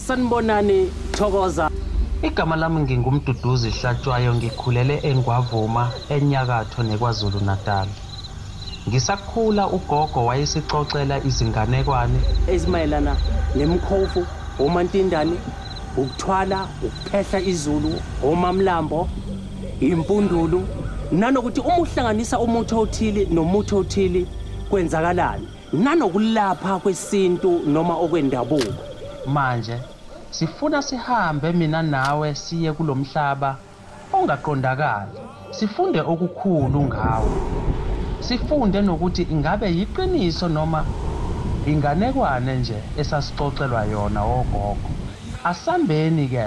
Sanibonani Thokoza. Igama lami ngingumduduzi Hlatshwayo ngikhulele eNgwavuma enyakatho neKwaZulu Natal. Ngisakhula ugogo wayesixoxela izinganekwane ezimayelana nemkhovu, omantindane, ukuthwala, ukuphehla izulu, omamlambo, impundulu nanokuthi uma uhlanganisa umuthi othile nomuthi othile kwenzakalani. nanokulapha kwesintu noma okwendabuko. Manje sifuna sihambe mina nawe siye kulomhlaba ongaqondakali sifunde okukhulu ngawo. Sifunde nokuthi ingabe yiqiniso noma inganekwane nje esasixoxelwa yona wogogo. Asambeni ke.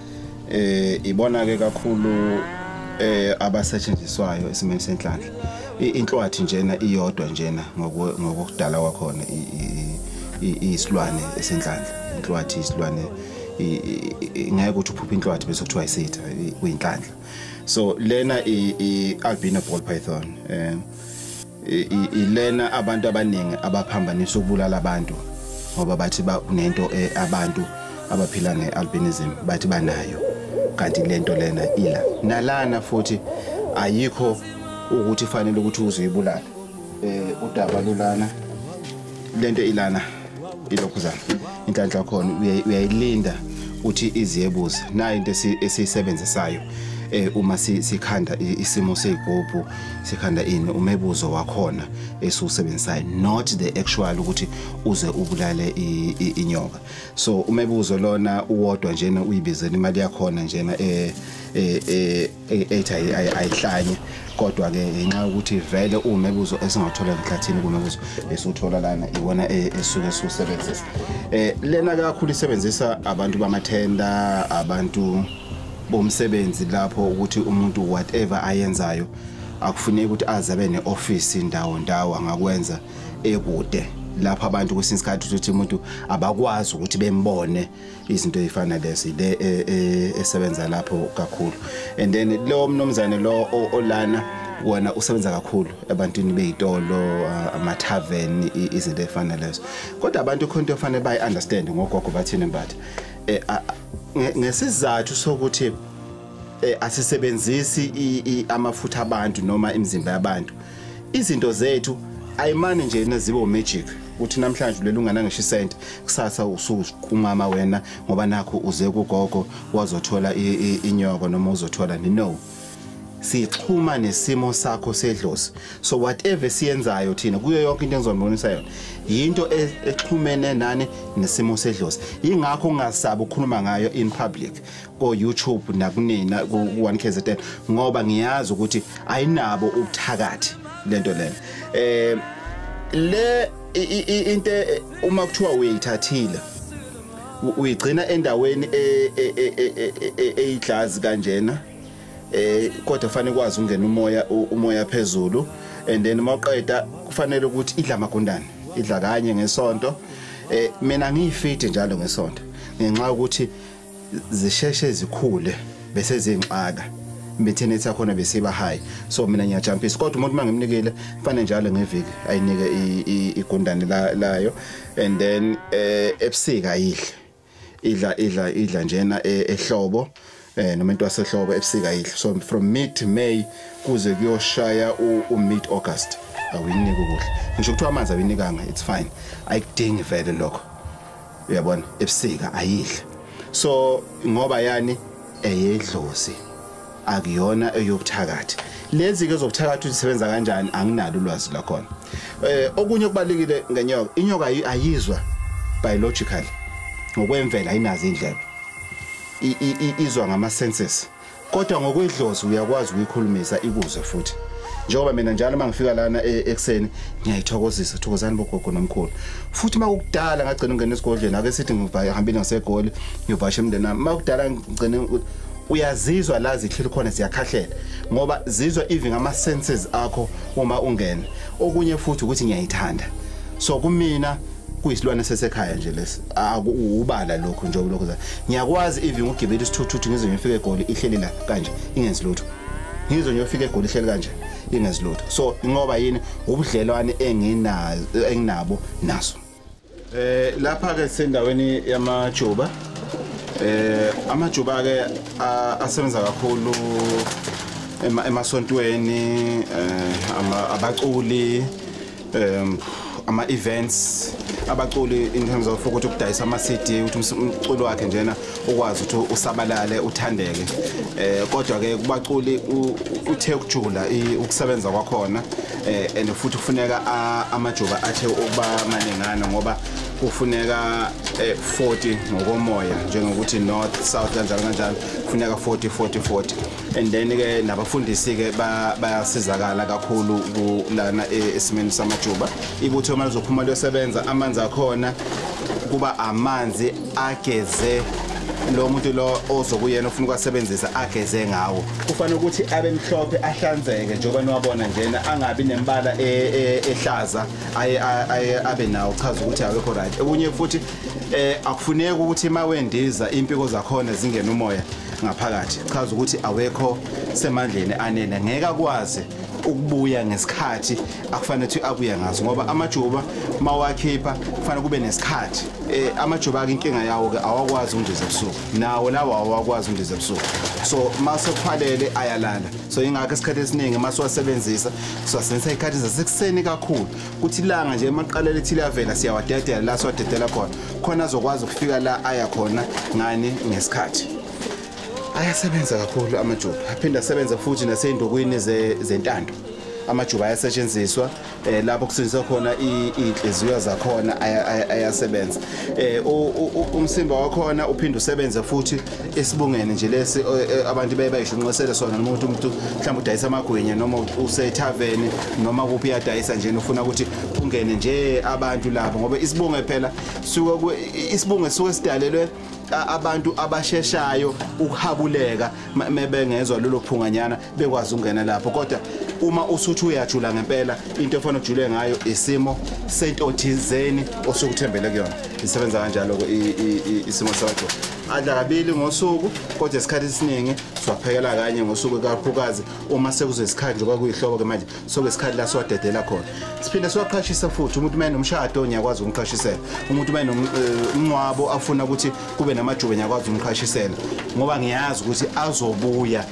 eh ibona ke kakhulu eh abasetshenziswayo esimeni senhlanhla inhlwathi njena iyodwa njena ngokudala kwakhona isilwane esenhlanhla inhlwathi isilwane ngeke ukuthi uphuphe inhlwathi bese kuthiwa isitha kuyinhlanhla so lena i albino ball python um ilena abantu abaningi abaphambanisa ukubulala abantu ngoba bathi kunento eh, abantu abaphila nge-albinism bathi banayo kanti lento lena ila nalana futhi ayikho ukuthi fanele ukuthi uzoyibulala eh udaba lulana lento ilana ilokhu zami inhlanhla yakhona uyayilinda uthi iziyebuza nayo into esiyisebenzisayo eh uma sikhanda isimo sezigubhu sikhanda ini umebuzo wakhona esiwusebenzisayo not the actual ukuthi uze ubulale inyoka so umebuzo lona uwodwa njena uyibizela imali yakhona njena eh eh, eh ethi ayihlanye kodwa-ke ngenxa yokuthi vele uwumebuzo esingawuthola emhlathini kumebuzo esiwuthola lana iwona e, esuke siwusebenzisa um lena kakhulu isebenzisa abantu bamathenda abantu bomsebenzi lapho ukuthi umuntu whatever ayenzayo akufuneki ukuthi aze abe ne-ofisi ndawo ndawo angakwenza ekude lapho abantu kwesinye isikhathi ukuthi umuntu abakwazi ukuthi bembone izinto ezifana lezi le e, e, esebenza lapho kakhulu and then lo mnomzane lo olana wona usebenza kakhulu ebantwini beyitolo ama tavern izinto ezifana lezo kodwa abantu khonto efanele bayi understand ngogogo bathini mbatha eh, ngesizathu sokuthi eh, asisebenzisi amafutha abantu noma imizimba yabantu izinto zethu ayimane nje nezibe umagic uthi namhlanje leli ungana ngisho isenti kusasa usuqumama wena ngoba nakho uze kugogo wazothola inyoko noma uzothola ni no sixhuma nesimo sakho sedlozi so whatever siyenzayo thina kuyo yonke into engizonibonisa yona yinto e, exhumene nani nesimo sedlozi ingakho ungasabi ukukhuluma ngayo in public ko YouTube nakunina ku 1KZN ngoba ngiyazi ukuthi ayinabo ubuthakathi lento lena eh le into e, uma kuthiwa uyithathile uyigcina endaweni e, e, eyiglazi kanjena eh kodwa fanele kwazi ungena umoya umoya phezulu and then uma uqeda kufanele ukuthi idla magundane idla kanye ngesonto eh mina ngiyifiti njalo ngesonto ngenxa ukuthi zisheshe zikhule bese zingxaka imithini sakhona besiba high so mina ngiyajampisa kodwa umuntu mangimnikile fane njalo ngeviki ayinike igundane layo and then eh, ebusika ayidle idla idla idla njena eh, ehlobo eh noma into yasehlobo ebusika idla so from mid may kuze kuyoshaya u mid august awuyinike ukudla ngisho kuthiwa amanzi awinikanga it's fine ayikudingi vele lokho uyabona ebusika ayidle so ngoba yani eyedlozi akuyona eyobuthakathi lezi ke zobuthakathi usebenza kanjani anginalo ulwazi lakhona eh okunye okubalekile ngenyoka inyoka ayizwa biological ngokwemvela ayinazo indlebe izwa ngama senses kodwa ngokwedlozi uyakwazi ukuyikhulumisa ikuzwe futhi njengoba mina njalo uma ngifika lana e, ekuseni ngiyayithokozisa thokozani bogogo nomkhulu futhi uma kukudala ngagcina ungena esigodlweni ake sithi ngihambile ngasegoli ngiyovasha emndeni wami uma kudala ngigcine uyazizwa la zihleli khona ziyakhahlela ngoba zizwa even ama senses akho uma ungena okunye futhi ukuthi ngiyayithanda so kumina kuyisilwane sesekhaya nje lesi akuwubala lokho nje lokho za ngiyakwazi even ukugibela isithuthuthi ngize ngifike egoli ihleli la kanje ingenzi lutho ngizo ngiyofika egoli ihleli kanje ingenzi lutho so ingoba yini ubudlelwane enginazo enginabo naso eh lapha ke sendaweni yamajuba eh amajuba ke asebenza kakhulu emasontweni eh abaculi um ama-events abaculi in terms of ukuthi ukudayisa ama-cd ukuthi umculi wakhe njena ukwazi ukuthi usabalale uthandeke um kodwa-ke kubaculi uthe ukujula ukusebenza kwakhona um and futhi kufuneka amajuba athe ukuba maningana ngoba kufuneka 40 eh, ngokomoya njengokuthi north south kanjalo kanjalo kufuneka 40 40 40 and then ke nabafundisi ke bayasizakala kakhulu kulana e, esimeni samajuba ibutho uma lizophuma liyosebenza amanzi akhona kuba amanzi ageze lo muntu lo ozokuyena ufuna ukwasebenzisa ageze ngawo kufanele ukuthi abe mhlophe ahlanzeke njengoba niwabona njena angabi nembala e, e, ehlaza aye abe nawo chaza ukuthi awekho right okunye futhi eh akufuneki ukuthi mawendiza impiko zakhona zingena umoya ngaphakathi chaza ukuthi awekho semandleni anele ngeke akwazi ukubuya ngesikhathi akufanele ukuthi abuye ngaso ngoba amajuba mawakhipha kufanele kube nesikhathi eh amajuba ake inkinga yawo ke awakwazi undiza ebusuku nawo lawo awakwazi undiza ebusuku so mase kuphwalele ayalala so ingakho isikhathi esiningi mase wasebenzisa so senza ikhathi zasekuseni kakhulu kuthi ilanga nje emaqala lethi liyavela siyawadedela la siwadedela khona khona azokwazi ukufika la aya khona ngani ngesikhathi ayasebenza kakhulu amajuba aphinde asebenza futhi nasey'ndokwini zentando amajuba ayasetshenziswa eh lapho kusetshenziswa khona inhliziyo zakhona ayasebenza eh umsimba wakhona uphinde usebenze futhi esibungene nje lesi abantu beye bayishunqesele sona noma ukuthi umuntu mhlawumbe udayisa amagwinya noma usethaveni noma kuphi uyadayisa nje ufuna ukuthi kungene nje abantu labo ngoba isibunge phela suke isibunge suke sidalelwe abantu abasheshayo ukuhabuleka mebengezwa lolo phunganyana bekwazi ukungena lapho kodwa uma usuthi uyajula ngempela into efanele ujule ngayo isimo sento thizeni osukuthembele kuyona isebenza kanjalo ke isimo sakho adla kabili ngosuku kodwa isikhathi esiningi siwaphekela kanye ngosuku kakhulukazi uma sekuzesikhathi njengoba kuyihlobo ke manje sokuyisikhathi la siwadedela khona siphinde siwaqhashise futhi umuntu uma enomshado ngiyakwazi ukumqhashisela umuntu uma enomnqwabo eh, afuna ukuthi kube namajuba ngiyakwazi ukumqhashisela ngoba ngiyazi ukuthi azobuya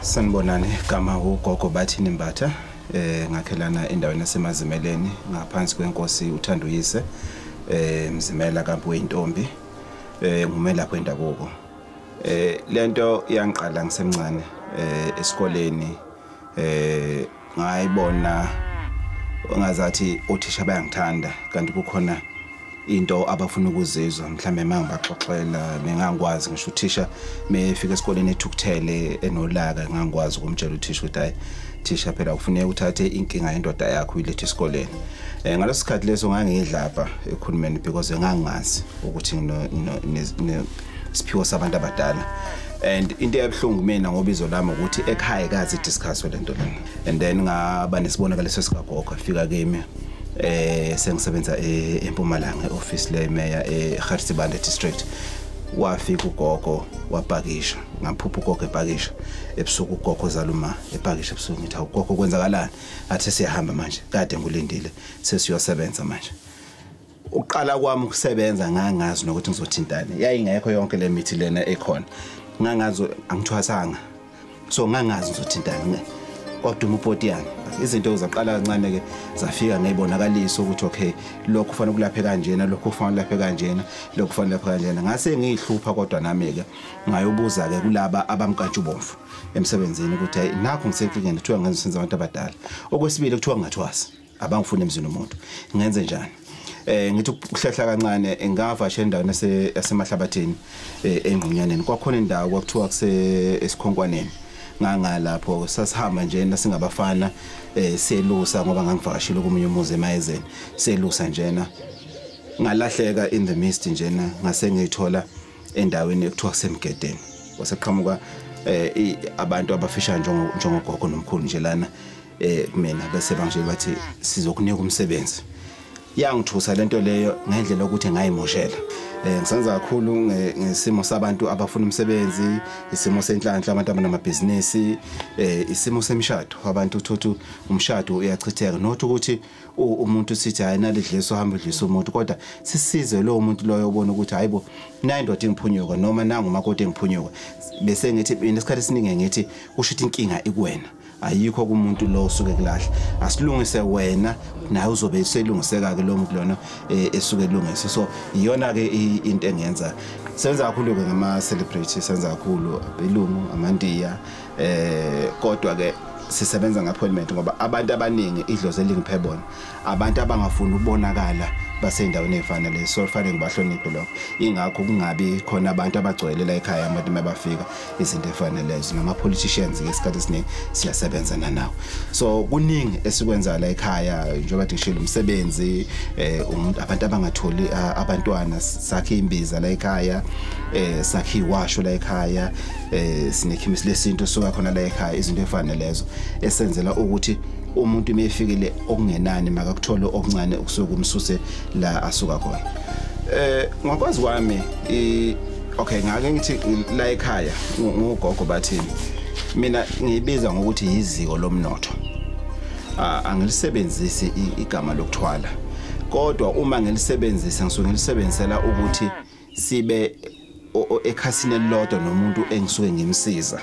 Sanibonani gama ugogo bathini Mbatha eh ngakhelana endaweni yasemazimeleni ngaphansi kwenkosi uthanda uyise eh mzimela kampu wentombi eh ngumelaphi wendabuko eh lento yangiqala ngisemncane eh esikoleni eh ngayibona ongazathi othisha bayangithanda kanti kukhona into abafuna ukuzizwa mhlambe mangibaxoxela bengangikwazi ngisho uthisha mefika esikoleni ethukuthele enolaka ngangikwazi ukumtshela uthisha ukuthi hayi thisha phela kufuneka uthathe inkinga yendoda yakho uyilethe esikoleni um ngaleso sikhathi leso ngangiyidlapha ekhulumeni because ngangingazi ukuthi siphiwo sabantu abadala and into eyabuhlungu mina ngoba izo lami ukuthi ekhaya kazi discuss lento lena and then ngaba nesibonakaliso sikagogo afika kimi eh sengisebenza e, eMpumalanga office le mayor eGarsibande district wafika ugogo wapakisha ngaphupha ugogo epakisha ebusuku ugogo zaluma epakisha ebusuku ngithi awugogo kwenzakalani athe siyahamba manje kade ngulindile sesiyosebenza manje uqala kwami ukusebenza ngangazi nokuthi ngizothintana yayingekho yonke le mithi lena ekhona ngangazi angithwasanga so ngangazi ngizothintana kwaduma upoti yami izinto zaqala kancane ke zafika ngeyibonakaliso ukuthi okay lokho kufanele kulaphe kanjena lokho kufanele kulaphe kanjena lokho kufanele laphe kanjena ngase ngiyihlupha kodwa nami ke ngayobuza ke kulaba abamkatshu bomfu emsebenzini ukuthi hey nakho ngisenkingeni kuthiwa ngenza senza abantu abadala okwesibili kuthiwa ngathwasa abangifuni emzini umuntu ngenze njani eh ngithi ukuhlehla kancane ngavasha endaweni yasemahlabathini eh, engqunyaneni kwakhona indawo kwakuthiwa kuse esikhonkwaneni ngangalapho sasihamba nje nasingabafana eh selusa ngoba ngangivakashile komunye umuzi emayezeni selusa njena ngalahleka in the mist njena ngase ngithola endaweni ekuthiwa kusemgedeni waseqhamuka eh abantu abafisha njengo njengogogo nomkhulu nje lana eh mina bese banje bathi sizokunika umsebenzi yangithusa lento leyo ngendlela ukuthi ngayimoshela eh ngisenza kakhulu ngesimo sabantu abafuna umsebenzi isimo senhlanhla abantu abanamabhizinisi eh isimo semishado abantu uthothu umshado uyachitheka not ukuthi umuntu sithi hayi nalidlisa uhamba udlisa umuntu kodwa sisize lowo muntu loyo obona ukuthi hayibo nayi ndoda engiphunyuka noma nangu makoti engiphunyuka bese ngithi mina isikhathi esiningi ngithi kusho ukuthi inkinga ikuwena ayikho kumuntu lo osuke kulahle asilungise wena naye uzobe selungiseka ke lo muntu lona eh, esuke elungise so iyona ke into engenza senza kakhulu ke ngama celebrity senza kakhulu abelungu amandiya eh kodwa ke sisebenza nge-appointment ngoba abantu abaningi idlozi elingiphe bona abantu abangafuni ukubonakala basey'ndaweni ey'fanele so kufanele ngibahloniphe lokho ingakho kungabi khona abantu abagcwele la ekhaya abantu uma bafika izinto ey'fanelezo nama-politicians-ke esikhathi esiningi siyasebenza nanawo so kuningi esikwenzayo la ekhaya njengoba ndishile umsebenzi um abantu abangatholi abantwana sakhe imbiza la ekhaya um sakhe iwasho la ekhaya eh sinekhemisi lesintu soka khona la ekhaya izinto efana lezo esenzela ukuthi umuntu mefikile okungenani makakuthole okuncane okusuka umsuse la asuka khona eh ngokwazi kwami okay ngake ngithi la ekhaya ngugogo bathini mina ngibiza ngokuthi yiziko lomnotho ah, angilisebenzisi igama lokuthwala kodwa uma ngilisebenzisa ngisuke ngilisebenzisela ukuthi sibe ekhasini elilodwa nomuntu engisuke ngimsiza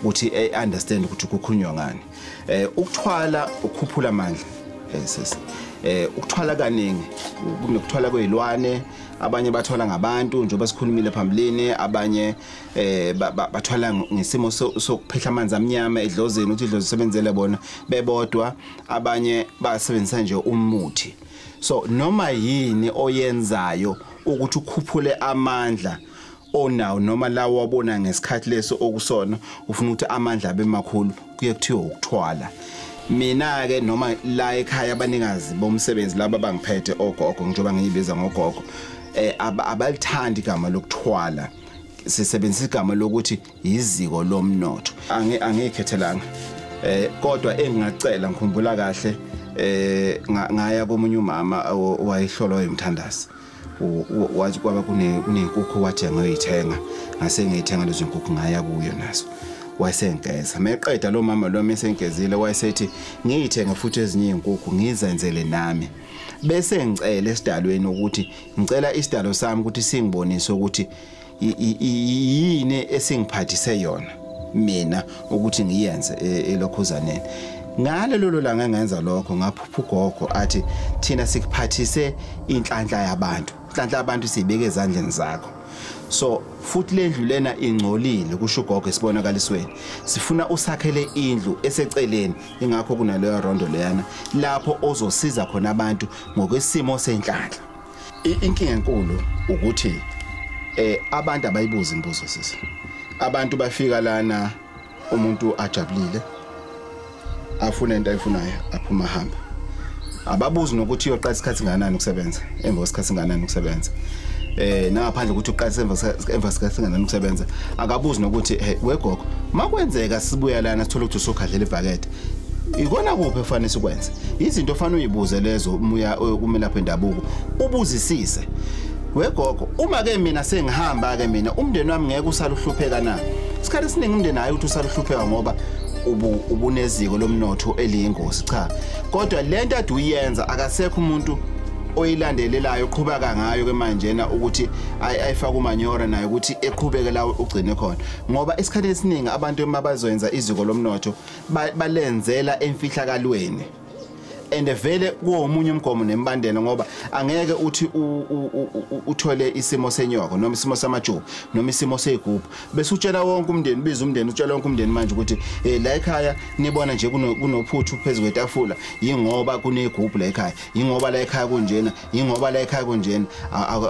ukuthi e understand ukuthi kukhulunywa ngani eh ukuthwala ukhuphula amandla yes eh ukuthwala kaningi kunekuthwala kwezilwane abanye bathwala ngabantu njengoba sikhulumile phambilini abanye eh bathwala ngesimo sokuphehla amanzi amnyama edlozeni ukuthi idlozi sebenzele bona bebodwa abanye basebenzisa nje umuthi so noma yini oyenzayo ukuthi ukhuphule amandla onawo noma lawo wabona ngesikhathi leso okusona ufuna ukuthi amandla abe makhulu kuye kuthiwa ukuthwala mina ke noma la ekhaya abanikazi bomsebenzi laba bangiphethe ogogo njengoba ngiyibiza ngogogo eh abalithandi igama lokuthwala sisebenzisa igama lokuthi yiziko lomnotho angi angikhethelanga eh kodwa engingacela ngikhumbula kahle eh ngaya komunye umama owayehlolwa yomthandazi wathi kwaba kunenkukhu wathi angoyithenga ngase ngiyithenga lezo nkukhu ngaya kuyo nazo wayesengeza meqeda lo mama lo mesengezile wayesethi ngiyithenge futhi ezinye izinkukhu ngizenzele nami bese ngicela esidalweni ukuthi ngicela isidalo sami ukuthi singibonise ukuthi yini esingiphathise yona mina ukuthi ngiyenze e, elokhuzaneni ngale lolo langa ngenza lokho ngaphupha ugogo athi thina sikuphathise inhlanhla yabantu inhlanhla yabantu sibeke ezandleni zakho so futhi lendlu lena ingcolile kusho ugogo esibonakalisweni sifuna usakhele indlu eseceleni ingakho kunaleyo rondo leyana lapho ozosiza khona abantu ngokwesimo senhlanhla inkinga enkulu ukuthi eh abantu abayibuza imibuzo sisi abantu bafika lana umuntu ajabulile afuna into ayifunayo aphuma hamba ababuzi nokuthi uyoqala isikhathi nganani ukusebenza emva kwesikhathi nganani ukusebenza eh nangaphandle ukuthi uqalise emva sikasingana ukusebenza akabuzi nokuthi wegogo makwenzeka sibuya lana sithola ukuthi usugadlela ibhakede ikona kuphi efanele sikwenze izinto ofanele uyibuze lezo umuya eh, kumelaphi endabuko ubuzisise wegogo uma ke mina sengihamba ke mina umndeni wami ngeke usaluhlupheka na isikhathi esiningi umndeni hayi ukuthi usaluhlupheka ngoba ubuneziko lomnotho eliyingozi cha kodwa lento ade uyenza akasekho umuntu oyilandelelayo uqhuba kangayo ke manje na ukuthi ayifaka umanyora nayo ukuthi eqhubeke lawo ugcine khona ngoba isikhathi esiningi abantu emabazoyenza iziko lomnotho balenzela emfihlakalweni and vele kuwomunye umgomo nembandela ngoba angeke uthi uthole isimo senyoko noma isimo samajuba noma isimo seyigubhu bese utshela wonke umndeni biza umndeni utshela wonke umndeni manje ukuthi hey eh, la ekhaya nibona nje kunophuthu phezulu kwetafula yingoba kunegubhu la ekhaya yingoba la ekhaya kunjena yingoba la ekhaya kunjena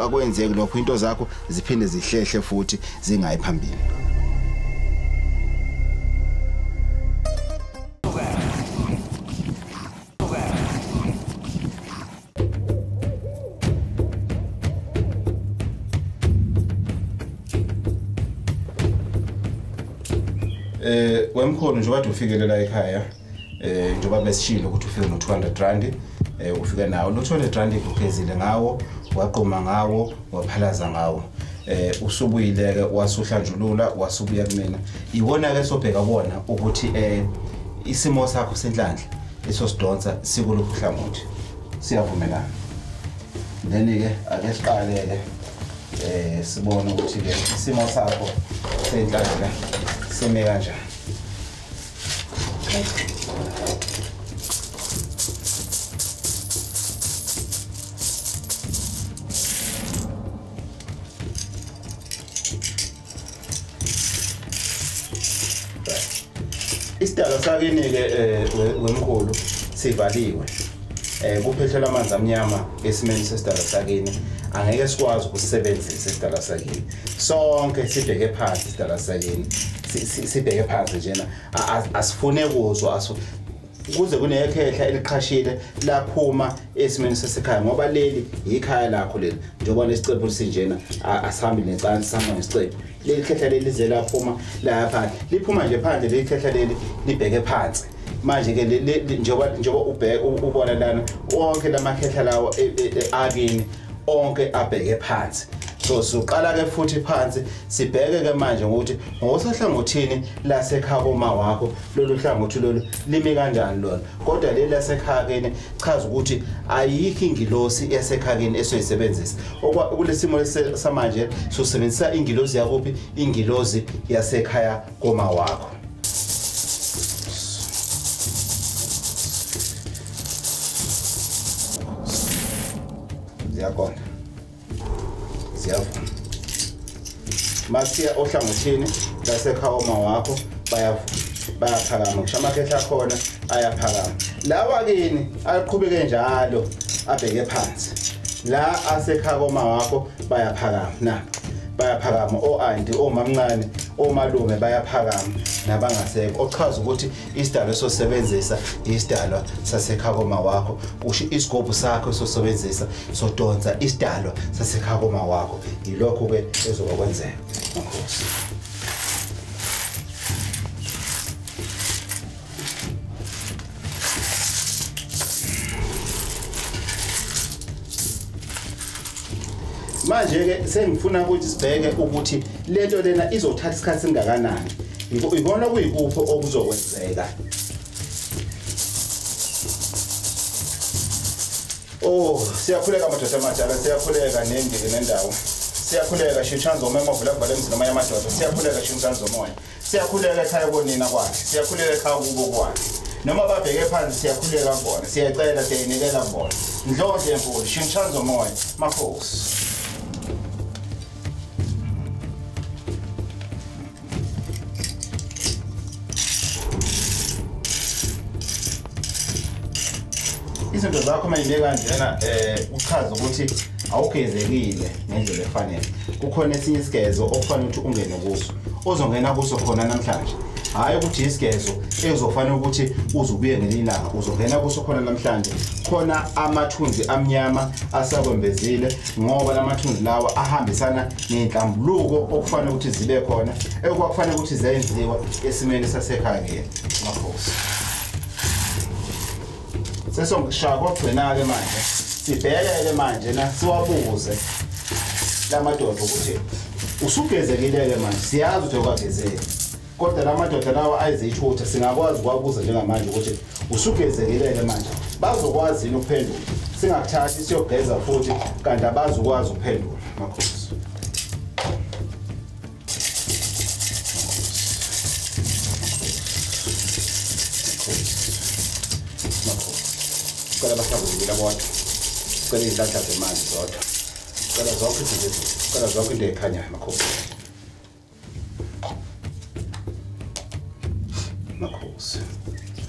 akwenzeki lokho into zakho ziphinde zihlehle futhi zingayi phambili Eh wemkhulu nje kade ufikele la ekhaya eh njengoba besishilo ukuthi ufike no 200 rand eh ufika nawo lo 200 rand ugezile ngawo waqoma ngawo waphalaza ngawo eh usubuyile ke wasuhlanjulula wasubuya kumina iwona ke sobheka bona ukuthi eh isimo sakho senhlanhla iso sidonsa sikuluphi hlangothi siyavumelana then ke ake siqale ke eh sibone ukuthi ke isimo sakho senhlanhla sime kanjani isidalo sakini-ke um eh, wemkhulu sivaliwe eh kuphethelwa amanzi amnyama esimeni sesidala sakini angeke sikwazi ukusebenzisa isidala sakini sonke sibheke phansi isidala sakini sibheke phansi njena asifune kuzwa kuze kunekhehla eliqhashile laphuma esimeni sesekhaya ngoba leli yikhaya lakho leli njengoba nesicebo sinjena asihambi necansi sihamba nesicebo leli khehla leli lize laphuma lapha liphuma nje phandle leli khehla leli libheke phansi manje ke njengoba njengoba ubheke ubona lana wonke lamakhehla lawo e, e, e, akini onke abheke phansi so sizoqala ke futhi phansi sibheke ke manje ukuthi ngosohlangothini lasekhaya koma wakho lolu hlangothi lolu limi kanjani lona kodwa leli lasekhakeni chaza ukuthi ayikho ingilosi esekhakeni esoyisebenzisa kulesimo samanje sosebenzisa ingilosi yakuphi ingilosi yasekhaya koma wakho ziyakonda ziyavuma masiya ohlangothini lasekhawoma wakho bayavuma bayaphakama ngisho amakhehla akhona ayaphakama lawa kini aqhubeke njalo abheke phansi la asekhakoma wakho bayaphakama na bayaphakama o-anti omamncane omalume bayaphakama nabangasekho ochaza ukuthi isidalwa esosebenzisa isidalwa sasekhakoma wakho kusho isigobhu sakho esosebenzisa sodonsa isidalwa sasekhakoma wakho yilokho ke ezoba kwenzeka makhosi manje-ke sengifuna ukuthi sibheke ukuthi le nto lena izothatha isikhathi singakanani ikona kuyikuphi okuzokwenzeka Oh siyakhuleka madoda amadala siyakhuleka nendiki nendawo siyakhuleka shitshanzo uma emavula kuvale emzini omoya amadoda siyakhuleka shitshanzo omoya siyakhuleka ekhaya konina kwakhe siyakhuleka ekhaya kubo kwakhe noma babheke phansi siyakhuleka kubona siyacela siyayinikela kubona ndlondle enkulu shintshani zomoya makhosi izinto zakho uma yine kanjena um eh, uchaza ukuthi awugezekile ngendlela efanele kukhona esinye isigezo okufanele ukuthi ungene kuso ozongena kuso khona namhlanje hhayi ukuthi isigezo ezofanele ukuthi uze ubuye ngelinye ilanga uzongena kuso khona namhlanje khona amathunzi amnyama asakwembezile ngoba la mathunzi lawa ahambisana ney'nhlambuluko okufanele ukuthi zibe khona ekwakufanele ukuthi zenziwa esimeni sasekhaya ngeni mafosi sesongishaya kogcina-ke manje sibhekeke manje na siwabuze la madoda ukuthi usugezekile-ke manje siyazi ukuthi okwagezeki kodwa la madoda lawa ayizithutha singakwazi ukuwabuza njengamanje ukuthi usugezekile-ke manje bazokwazi yini ukuphendula singakuthathi siyogeza futhi kanti abazukwazi ukuphendula makhosi cela basabukile bodwa cela izinhlanhla zemanzi zodwa cela zonke izinto cela zonke into ekhanyayo makhosi makhosi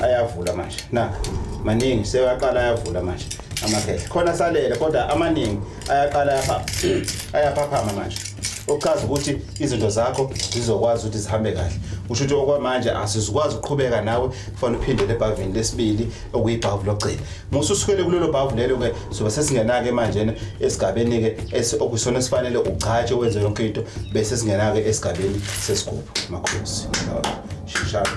ayavula manje na maningi sewaqala ayavula manje amakhehla khona salele kodwa amaningi ayaqala yapha ayaphaphama manje okuchaza ukuthi izinto zakho zizokwazi ukuthi zihambe kahle usho ukuthi okwamanje asizikwazi ukuqhubeka nawe kufanele uphindele ebhavini lesibili okuyibhavu lokugcina musa usukele kulelo bhavu lelo-ke sobe sesingenake manje esigabeni-ke okusona esifanele ugcatshe wenze yonke into bese singenake esigabeni sesigubhu makhosi shishalo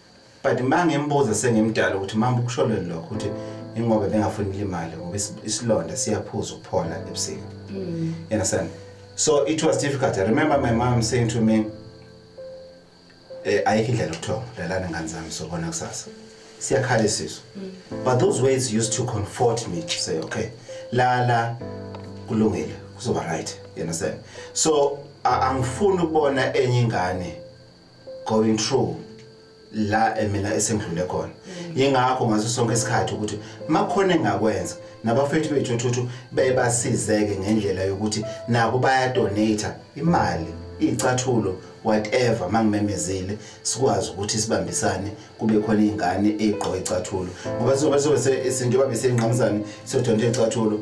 but uma ngimbuza sengimdala ukuthi mama ukusholweni lokho ukuthi ingoba bengafuni ilimali ngoba isilonda siyaphuza ukuphola ebusika mm. you understand so it was difficult i remember my mom saying to me eh, ayikho indlela yokuthonga lalana ngane zami sobona kusasa siyakhala isiso mm. but those words used to comfort me to say okay lala kulungile kuzoba right you understand so angifuni ukubona enye ingane going through la mina esengidlule khona yingakho ngaso sonke isikhathi ukuthi makhona engakwenza nabafethu bethu othuthu bebasizeke ngendlela yokuthi nabo bayadonate imali icathulo whatever mangimemezile sikwazi ukuthi sibambisane kube khona ingane egqoka icathulo ngoba sizobe sobe isinto babe sengqamuzane sodonta icathulo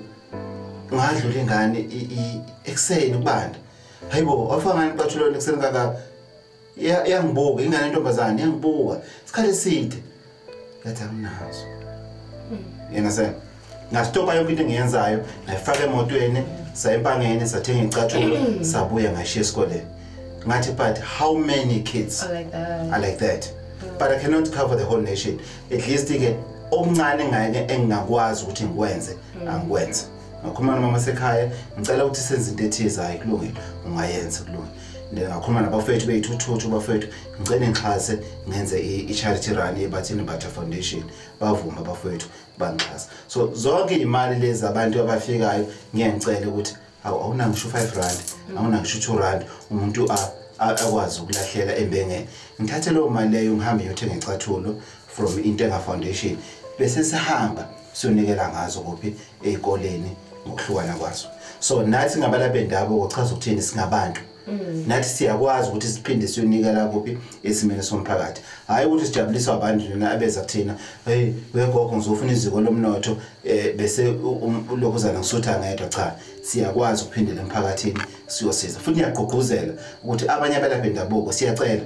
ngadlula ingane ekseni kubanda hayi bo wafika ngani iqatshulweni ekuseni kangaka iyangibuka ingane yentombazane iyangibuka isikhathi eside yathi anginazo yena se ngastopha yonke into engiyenzayo ngayifaka emotweni saya empangeni sathenga icathulo sabuya ngashiya esikoleni ngathi but how many kids are like that, are like that. Mm. but i cannot cover the whole nation at least-ke okuncane ngake engingakwazi ukuthi ngikwenze mm. angikwenze ngakhuluma nomama sekhaya ngicela ukuthi senze into ethize hayi kulungile ungayenza kulungile ngakhuluma nabafethu beyithuthuthu bafethu ngicela ngixhase ngenze i-charity run yebathini butter foundation bavume abafethu bangixhasa so zonke iy'mali lezi abantu abafikayo ngiye ngicele ukuthi awu awunangisho u-five rand awunangisho u-two rand umuntu akwazi ukulahleka embengeni ngithathe leyo mali leyo ngihambe ngiyothenga icathulo from intenga foundation bese sihamba siyonikela ngazo kuphi ezikoleni ngokuhlukana kwazo so nathi ngabalaphi bendabuko chaza ukuthini singabantu mm. nathi siyakwazi ukuthi siphinde siyonikela kuphi esimeni somphakathi hhayi ukuthi sijabuliswa abantu nina abeza kuthina hey wegogo ngizofuna iziko lomnotho um eh, bese um, ulokhuzana ngisutha ngedwa cha siyakwazi ukuphindela emphakathini siyosiza futhi ngiyagqugquzela ukuthi abanye abelaphi bendabuko siyacela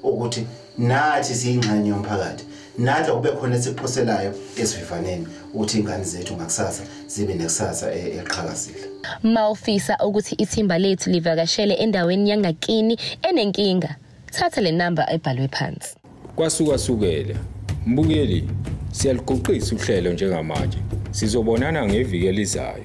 ukuthi nathi siyingxenye yomphakathi nathi akube khona esiphoselayo esivivaneni ukuthi ingane zethu ngakusasa zibe nekusasa e-, eqhakazile mawufisa ukuthi ithimba lethu livakashele endaweni yangakini enenkinga thatha le number ebhalwe phansi kwasukwasukele mbukeli siyaluguqisa uhlelo njengamanje sizobonana ngeviki elizayo